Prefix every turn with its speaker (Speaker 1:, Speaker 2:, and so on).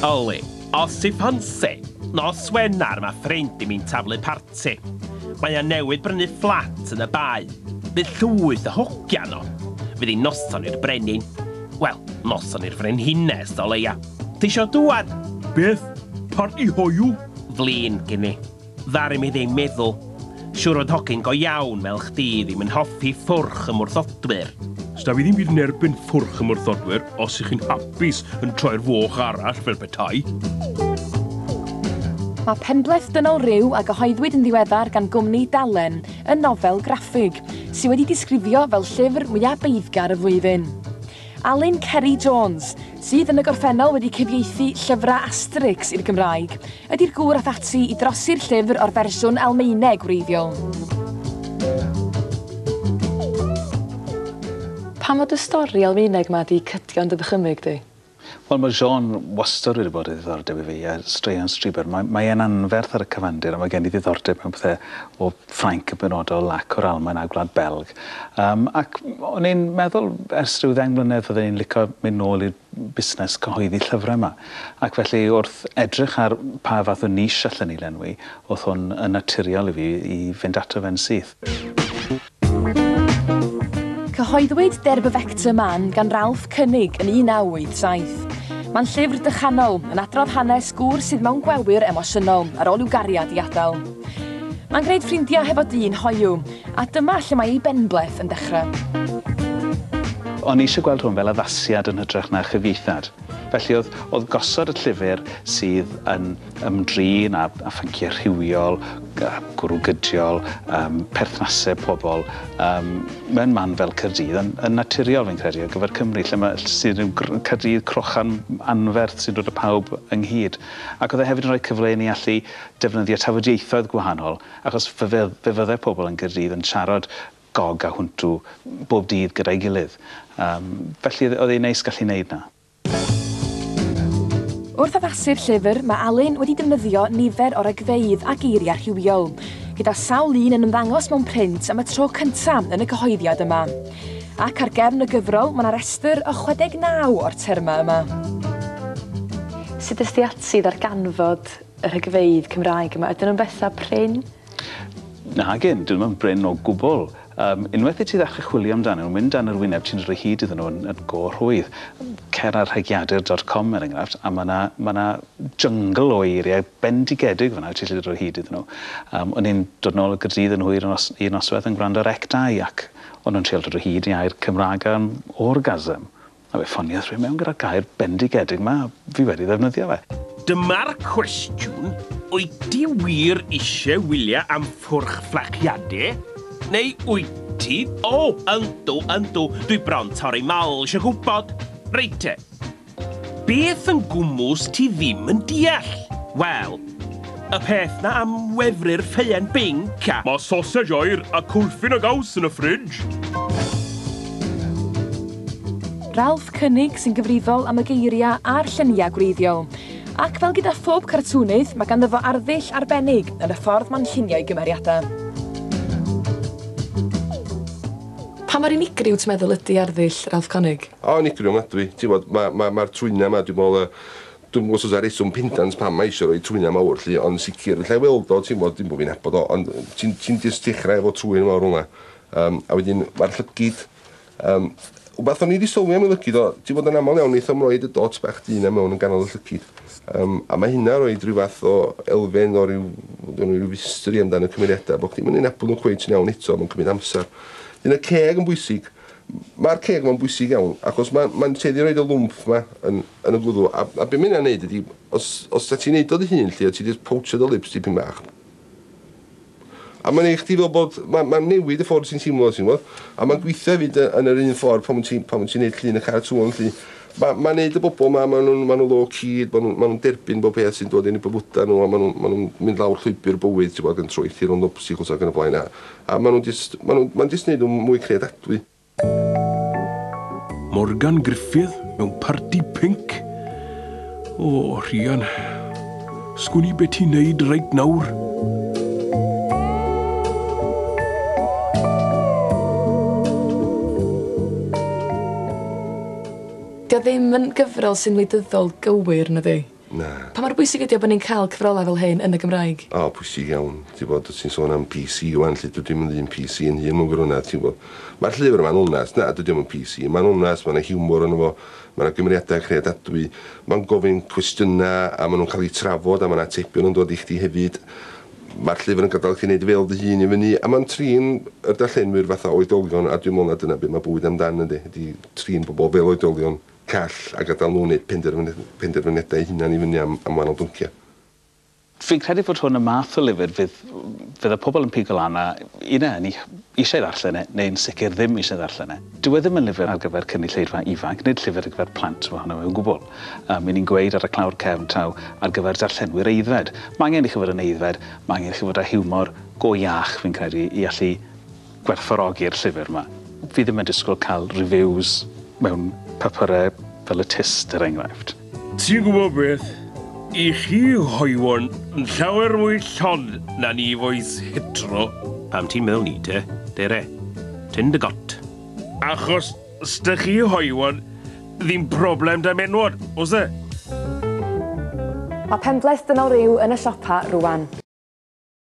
Speaker 1: Oli, os ti ffansi, nos Wener mae ffrind i mi'n taflu parti. Mae o newydd brynu fflat yn y Bae. Bydd llwyth o hogia yno. Fydd hi'n noson i'r brenin. Wel, noson i'r frenhines, o leia. Ti isio dŵad? Beth?
Speaker 2: Parti hoyw? Flin gin
Speaker 1: i. Ddaru mi ddim meddwl. Siwr fod hogyn go iawn fel chdi ddim yn hoffi ffwrch ymwrthodwyr. Sda fi ddim byd
Speaker 2: yn erbyn ffwrch ymwrthodwyr os ych chi'n hapus yn troi'r foch arall fel petai.
Speaker 3: Mae penbleth dynol rhyw a gyhoeddwyd yn ddiweddar gan gwmni Dalen yn nofel graffig sydd wedi disgrifio fel llyfr mwyaf beiddgar y flwyddyn. Alun Ceri Jones, sydd yn y gorffennol wedi cyfieithu llyfrau Asterix i'r Gymraeg, ydi'r gŵr ath ati i drosi'r llyfr o'r fersiwn Almaeneg wreiddiol. Pam fod y stori Almaeneg 'ma 'di cydio yn dy ddychymyg di? Wel mae Jean
Speaker 4: wastad wedi bod o ddiddordeb i fi a straeon Strieber. Mae mae e'n anferth ar y cyfandir a mae gen i ddiddordeb mewn pethe o Ffrainc yn benodol ac o'r Almaen a Gwlad Belg. Yym ac o'n i'n meddwl ers rhyw ddeng mlynedd fydden i'n licio mynd nôl i'r busnes cyhoeddi llyfrau yma. Ac felly wrth edrych ar pa fath o niche allen i lenwi, o'th hwn yn naturiol i fi i fynd ato fe yn syth.
Speaker 3: Cyhoeddwyd Der bewegte Mann gan Ralph Koenig yn 1987. Mae'n llyfr dychanol, yn adrodd hanes gŵr sydd mewn gwelyr emosiynol ar ôl i'w gariad i adael. Mae'n gwneud ffrindiau hefo dyn hoyw, a dyma lle mae ei benbleth yn dechrau.
Speaker 4: O'n i eisiau gweld hwn fel addasiad yn hytrach na chyfieithad. Felly oedd, oedd gosod y llyfr sydd yn ymdrin â, â phynciau rhywiol, gwrw gydiol, um, perthnasau pobl, um, mewn man fel Cyrdydd, yn, yn naturiol fi'n credu ar gyfer Cymru, lle mae sydd yn Cyrdydd crochan anferth sy'n dod o pawb ynghyd. Ac oedd e hefyd yn rhoi cyfle i ni allu defnyddio tafodieithoedd gwahanol achos fe fe fe fyddai pobl yn Gaerdydd yn siarad Gog a Hwntw bob dydd gyda'i gilydd. Yym felly oedd oedd e'n neis gallu wneud 'na.
Speaker 3: Wrth addasu'r llyfr mae Alun wedi defnyddio nifer o ragfeydd a geiriau rhywiol, gyda sawl un yn ymddangos mewn print am y tro cyntaf yn y cyhoeddiad yma. Ac ar gefn y gyfrol mae 'na restr o 69 o'r termau yma. Sut es di ati i ddarganfod y rhagfeydd Cymraeg yma, ydyn nhw'n bethau prin?
Speaker 4: Nagyn, dyn nhw ddim yn brin o gwbl. Um, unwaith i ti ddechrau chwilio amdanyn nhw, mynd dan yr wyneb, ti'n rhoi hyd iddyn nhw yn, yn go rhwydd. Cer ar rhegiadur.com er enghraifft, a mae yna ma na jyngl o eiriau bendigedig fyna ti'n lli rhoi hyd iddyn nhw. Um, o'n i'n dod nôl y gydydd yn hwyr yn os, un noswedd yn gwrando ar Ectai ac o'n nhw'n trial dod o hyd i air Cymraeg am orgasm. A fe ffoniodd rhywun mewn gyda'r gair bendigedig 'ma, a fi wedi ddefnyddio fe. Dyma'r
Speaker 1: cwestiwn, wyt ti wir eisiau wylio am ffwrch fflachiade? Neu wyt ti, o, yndw, yndw, dwi bron torri mal isio gwybod. Reit te. Beth yn gwmws ti ddim yn deall? Wel, Y peth 'na am wefru'r ffeuen binc a. Mae sosej oer
Speaker 2: a cwlffyn a gaws yn y ffridge.
Speaker 3: Ralph Koenig sy'n gyfrifol am y geiriau a'r lluniau gwreiddiol. Ac fel gyda phob cartŵnydd, mae ganddo fo arddull arbennig yn y ffordd mae'n llunio'i gymeriadau. Pa mor unigryw ti'n meddwl ydy arddull Ralph Koenig? O, unigryw ofnadwy.
Speaker 5: Ti'n gwybod, mae'r twyna 'ma, dwi'n meddwl, Dwi'm yn gwybod os oes 'na reswm pendant pam mae isio rhoi trwynau mawr 'lly, ond yn sicr, alla i weld o, ti'n gwybod, dim bod fi'n nabod o, ond ti'n ti'n jyst dechrau efo trwyn mawr fel 'na. Yym, a wedyn mae'r llygid, yym, wbath o'n i 'di sylwi am y lygid o, ti'n gwybod, yn aml iawn wnaethom roi y dots bach du 'na mewn yn ganol y llygid, yym, a mae hynna roi ryw fath o elfen o ryw, gynno ni ryw fistri amdan y cymeriadau, bod chdi'm yn eu nabod nhw cweit yn iawn eto, mae'n cymryd amser. Wedyn y ceg yn bwysig. Mae'r ceg ma'n bwysig iawn achos ma' ma'n tueddu i roid y lwmff ma yn yn y gwddw a a be' ma' hynna'n neud ydi os os ta ti'n neud o dy hun 'lly a ti jyst powtio dy lips dipyn bach a ma'n neu' chdi fel bod ma' ma'n newid y ffordd ti'n teimlo ti'n gwbod a ma'n gweithio hefyd yy yn yr un ffordd pan ti'n pan ti'n neud llun y cartŵn 'lly. Ma' ma'n neud y bobol 'ma ma' nw'n ma' nw low key ma' nw'n ma' nw'n derbyn bob peth sy'n dod yn 'u bywyda n'w a ma' nw'n ma' nw'n mynd lawr llwybyr bywyd t'wbo ag yn troelli rownd obstacles ag yn y blaen a A maen nhw'n jyst, maen nhw'n, mae'n jyst wneud nhw'n mwy creadadwy.
Speaker 2: Morgan Gruffydd mewn parti pync? O, Rhian. Sgwn i be ti'n neud reit nawr.
Speaker 3: Dio ddim yn gyfrol sy'n wleidyddol gywir, nadi? Na.
Speaker 5: Pa mor bwysig ydi
Speaker 3: o bo' ni'n ca'l cyfrolau fel hyn yn y Gymraeg? O, pwysig iawn.
Speaker 5: Ti wbod, wt ti'n sôn am PC ŵan 'lly, dydw i'm yn ddyn PC yn hun mewn gwirionedd, ti'n gwbod. Ma'r llyfr yma'n onest, na, dydi o'm yn PC, ma'n onest, ma' 'na hiwmor yno fo, ma' 'na gymeriadau creadadwy, ma'n gofyn cwestiynau a ma' nhw'n cael eu trafod a ma' 'na atebion yn dod i chdi hefyd. Ma'r llyfr yn gadael chdi wneud fel dy hun i fyny a ma'n trin y darllenwyr fatha oedolion a dwi'n meddwl na dyna be' ma' bywyd amdan yndi, ydi trin pobl fel oedolion. call a gadael nhw wneud penderfyniadau eu hunain i fyny am wahanol bynciau. Fi'n
Speaker 4: credu fod hwn y math o lyfr fydd fydd y pobl yn pigo lan a i na ni eisiau ddarllen e neu'n sicr ddim eisiau ddarllen e. Dyw e ddim yn lyfr ar gyfer cynulleidfa ifanc, nid llyfr ar gyfer plant ohono fe o gwbl. Yym, 'y ni'n gweud ar y clawr cefn taw ar gyfer darllenwyr aeddfed. Mae angen i chi fod yn aeddfed, mae angen i chi fod â hiwmor go iach, fi'n credu, i allu gwerthfawrogi'r llyfr 'ma. Fi ddim yn disgwyl cael reviews mewn papurau fel y Tyst, er enghraifft. Ti'n gwybod
Speaker 1: beth, i chi hoywon yn llawer mwy llon na ni foes hetero. Pam ti'n meddwl 'ny te, Dere? Ti'n dy got. Achos 'sda chi hoywon ddim problem 'da menwod, oes e?
Speaker 3: Mae
Speaker 1: penbleth
Speaker 3: dynol ryw yn y siopa rŵan.